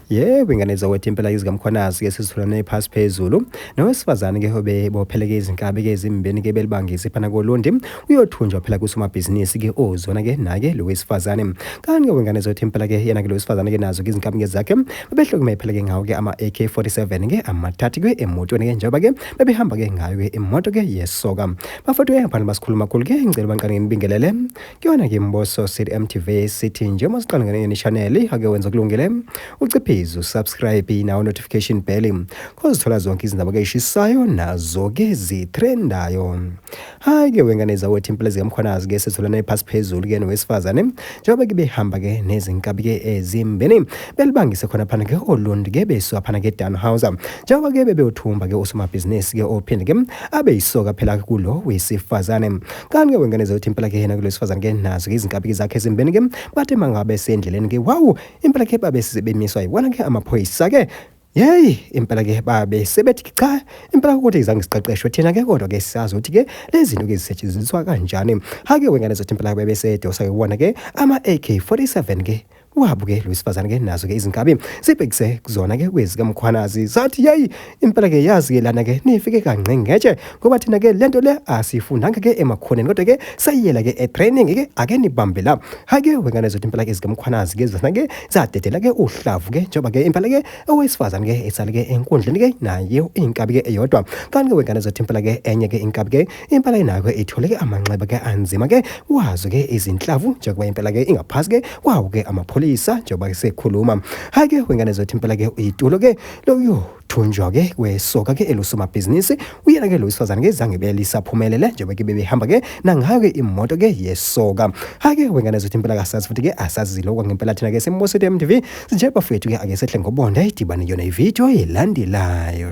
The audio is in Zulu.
Yebo ingane zakwethu impela izikamkhwanazi ke sizitholane phasi phezulu nowesifazane ke hobe bopheleke izinkabi ke ezimbeni ke belibangise phana kolundi uyothunjwa phela kusomabhizinisi ke ozona ke nake lo wesifazane kanti ke wengane zothi impela ke yena ke lo wesifazane ke nazo ke izinkabi ke zakhe bebehlukume phela ke ngawo ke ama AK47 ke amathathu ke emotweni ke njengoba ke bebehamba ke ngayo ke imoto ke yesoka bafethu ke phana basikhuluma khulu ke ngicela banqane nginibingelele Kuyona ke Mboso City MTV sithi njengoba siqala ngenye channel ake wenza kulungile uciphize usubscribe nawo notification bell kozithola zonke izindaba ke ishisayo nazo ke zitrendayo hayi ke wengane zawethi impilo zikamkhwanazi ke sitholana iphasi phezulu ke nowesifazane njengoba ke behamba ke nezinkabi ke ezimbeni belibangise khona phana ke olundi ke beswa phana ke Dan House njengoba ke bebewuthumba ke usomabhizinisi ke ophinde ke abe yisoka phela kulo wesifazane kanti ke wengane zothi impela ke yena kulesifazane ke nazo ke izinkabiki zakhe ezimbeni ke bathi mangabe sendleleni ke wawu impela ke babe sibemiswa yiwona ke amaphoyisa ke Yeyi impela ke babe sebethi cha impela ukuthi izange siqeqeshwe thina ke kodwa ke siyazi ukuthi ke lezinto ke zisetshenziswa kanjani hake wengane zothi impela bebe sedosa ke wona ke ama AK47 ke Wabu ke lwesifazane ke nazo ke izinkabi sibhekise kuzona ke kwezi kamkhwanazi sathi yayi impela ke yazi ke lana ke nifike kangqe ngetshe ngoba thina ke lento le asifundanga ke emakhoneni kodwa ke sayiyela ke e training ke ake nibambe la hayi ke wengane zothi impela ke zikamkhwanazi ke zona ke zadedela ke uhlavu ke njengoba ke impela ke owesifazane ke esale ke enkundleni ke naye inkabi ke eyodwa kanti ke wengane zothi impela ke enye ke inkabi ke Impela inakwe itholeke amanxeba ke anzima ke wazo ke izinhlavu njengoba impela ke ingaphasi ke kwawo ke amapholisa njengoba ke sekhuluma. Hayi ke wengane zethu impela ke uyitulo ke loyo thunjwa ke kwesoka ke elusomabhizinisi uyena ke lo wesifazane ke zange belisaphumelele njengoba ke bebehamba ke nangayo ke imoto ke yesoka. Hayi ke wengane zethu impela kasazi futhi ke asazilo kwangempela thina ke seMosito MTV sinje bafethu ke ake sehle ngobonda idibane yona ivideo elandelayo.